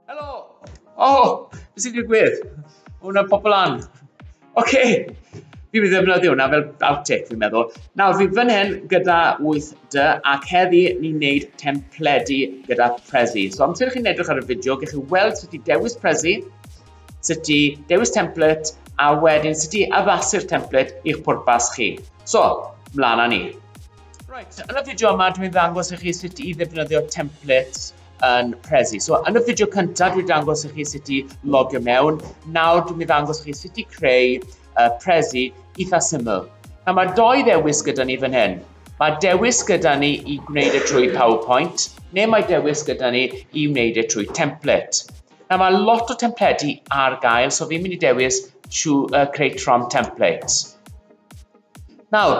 Helo! O, oh, beth sy'n digwydd? Hwna'n pobl an. Oce, okay. fi'n mynd i ddefnyddio hwnna fel outtake fi'n meddwl. Nawr, fi fan hyn gyda 8D ac heddi ni'n neud templedi gyda Prezi. So amser chi'n edrych ar y fideo, gech chi weld sut i dewis Prezi, sut i dewis template a wedyn sut i addasu'r template i'ch pwrpas chi. So, mlaen â ni. Right, yn y fideo yma dwi'n ddangos i chi sut i ddefnyddio templates yn Prezi. So yn y fideo cyntaf dwi'n dangos i chi sut i logio mewn. Nawr dwi'n mynd dangos chi sut i creu uh, Prezi eitha syml. Nawr mae doi ddewis gyda ni fan hyn. Mae dewis gyda ni i gwneud e trwy PowerPoint, neu mae dewis gyda ni i wneud e trwy template. Na, mae lot o templedi ar gael, so fi'n mynd i dewis trwy uh, creu tron templates. Nawr,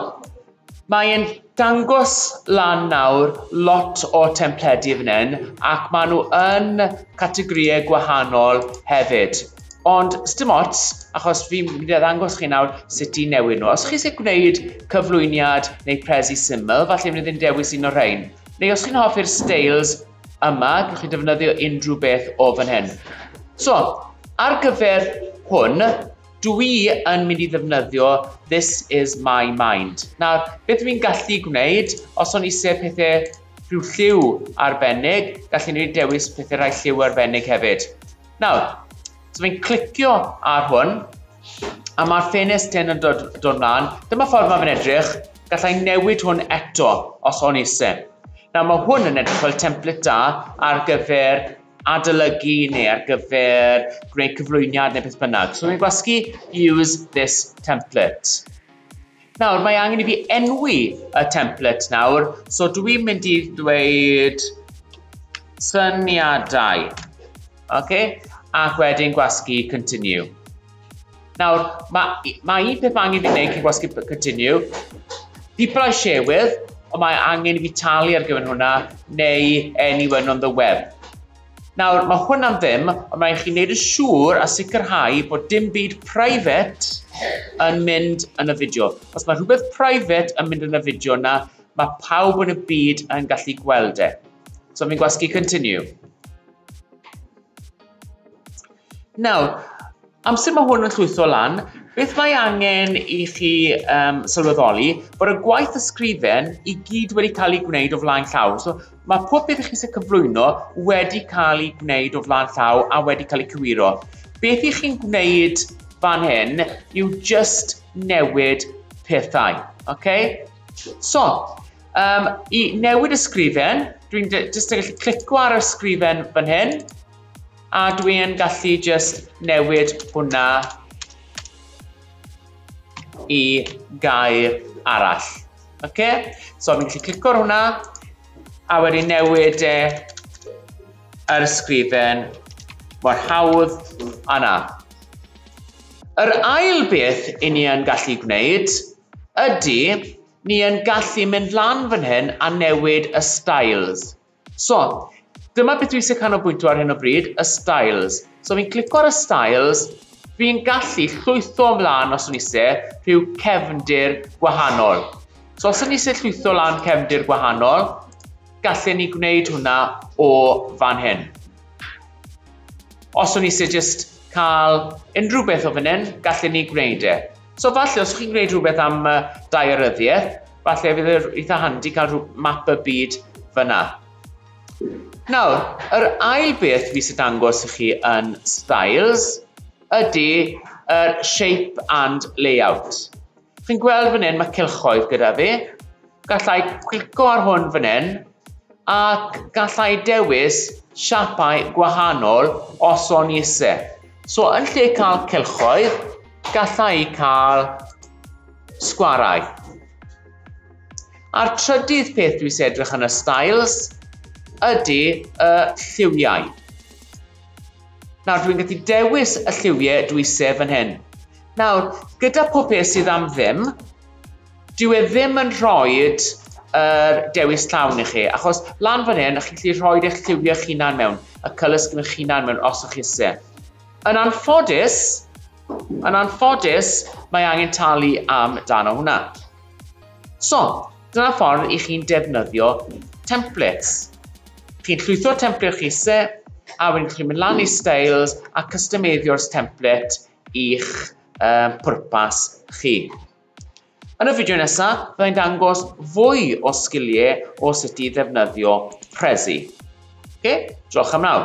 mae e'n dangos lan nawr lot o templedi fan hyn ac maen nhw yn categorïau gwahanol hefyd, ond sdim ots achos fi'n mynd i ddangos chi nawr sut i newid nhw. Os chi isie gwneud cyflwyniad neu prezi syml, falle mynd i'n dewis un o'r rhain, neu os chi'n hoffi'r steils yma, gallwch chi ddefnyddio unrhyw beth o fan hyn. So, ar gyfer hwn, Dw i yn mynd i ddefnyddio This is my mind. Nawr, beth dw i'n gallu gwneud, os o'n eisiau pethau rhyw lliw arbennig, gallu ni dewis pethau rhai lliw arbennig hefyd. Nawr, so fi'n clicio ar hwn, a mae'r ffenest hyn yn dod, dod mlaen. Dyma ffordd mae fe'n edrych, gallai newid hwn eto os o'n eisiau. Nawr mae hwn yn edrych fel template da ar gyfer adolygu neu ar gyfer gwneud cyflwyniad neu beth bynnag. So mae'n gwasgu use this template. Nawr, mae angen i fi enwi y template nawr, so dwi mynd i ddweud syniadau. Okay? Ac wedyn gwasgu continue. Nawr, mae, mae un peth angen fi wneud cyn gwasgu continue. People I share with, ond mae angen i fi talu ar gyfer hwnna, neu anyone on the web. Nawr, mae hwnna'n ddim, ond mae'n chi wneud yn siŵr a sicrhau bod dim byd private yn mynd yn y fideo. Os mae rhywbeth private yn mynd yn y fideo yna, mae pawb yn y byd yn gallu gweld e. So fi'n gwasgu continue. Nawr, amser mae hwn yn llwytho lan, beth mae angen i chi um, sylweddoli bod y gwaith ysgrifen i gyd wedi cael ei gwneud o flaen llaw. So, mae pob beth i chi sy'n cyflwyno wedi cael ei gwneud o flaen llaw a wedi cael ei cywiro. Beth i chi'n gwneud fan hyn yw just newid pethau. Okay? So, um, i newid ysgrifen, dwi'n just yn gallu clicio ar ysgrifen fan hyn, A dwi yn gallu jyst newid hwnna i gair arall. Ok? So fi'n gallu clico ar hwnna, a wedyn newid e yr ysgrifen mor hawdd a na. Yr ail beth i ni yn gallu gwneud ydy ni yn gallu mynd lan fan hyn a newid y styles. So, dyma beth dwi isie canolbwyntio ar hyn o bryd, y styles. So fi'n clico ar y styles, fi'n gallu llwytho ymlaen os o'n isie rhyw cefndir gwahanol. So os o'n isie llwytho lan cefndir gwahanol, gallen ni gwneud hwnna o fan hyn. Os o'n isie just cael unrhyw beth o fan hyn, gallen ni gwneud e. So falle os chi'n gwneud rhywbeth am uh, daearyddiaeth, falle fydd yr e eitha handi cael rhyw map y byd fyna. Nawr, yr ail beth fi sy'n dangos i chi yn Styles ydy yr uh, shape and layout. Chi'n gweld fan hyn, mae cylchoedd gyda fi. Gallai clico ar hwn fan hyn, Ac gallai dewis siapau gwahanol os o'n i isie. So yn lle cael cylchoedd, gallai i cael sgwarau. A'r trydydd peth dwi isie edrych yn y styles ydy y lliwiau. Nawr dwi'n gallu dewis y lliwiau dwi isie fan hyn. Nawr, gyda pob peth sydd am ddim, Dyw e ddim yn rhoid yr dewis llawn i chi, achos lan fan hyn, chi'n gallu rhoid eich lliwiau eich hunan mewn, y colour scheme eich hunan mewn, os o'ch chi isie. Yn anffodus, yn anffodus, mae angen talu am dan o hwnna. So, dyna ffordd i chi'n defnyddio templates. Chi'n llwytho'r template chi se, a wedyn chi'n mynd lan i styles a customeiddio'r template i'ch um, pwrpas chi. Yn y fideo nesaf, byddai'n dangos fwy o sgiliau o sut i ddefnyddio Prezi. Ok, diolch am nawr.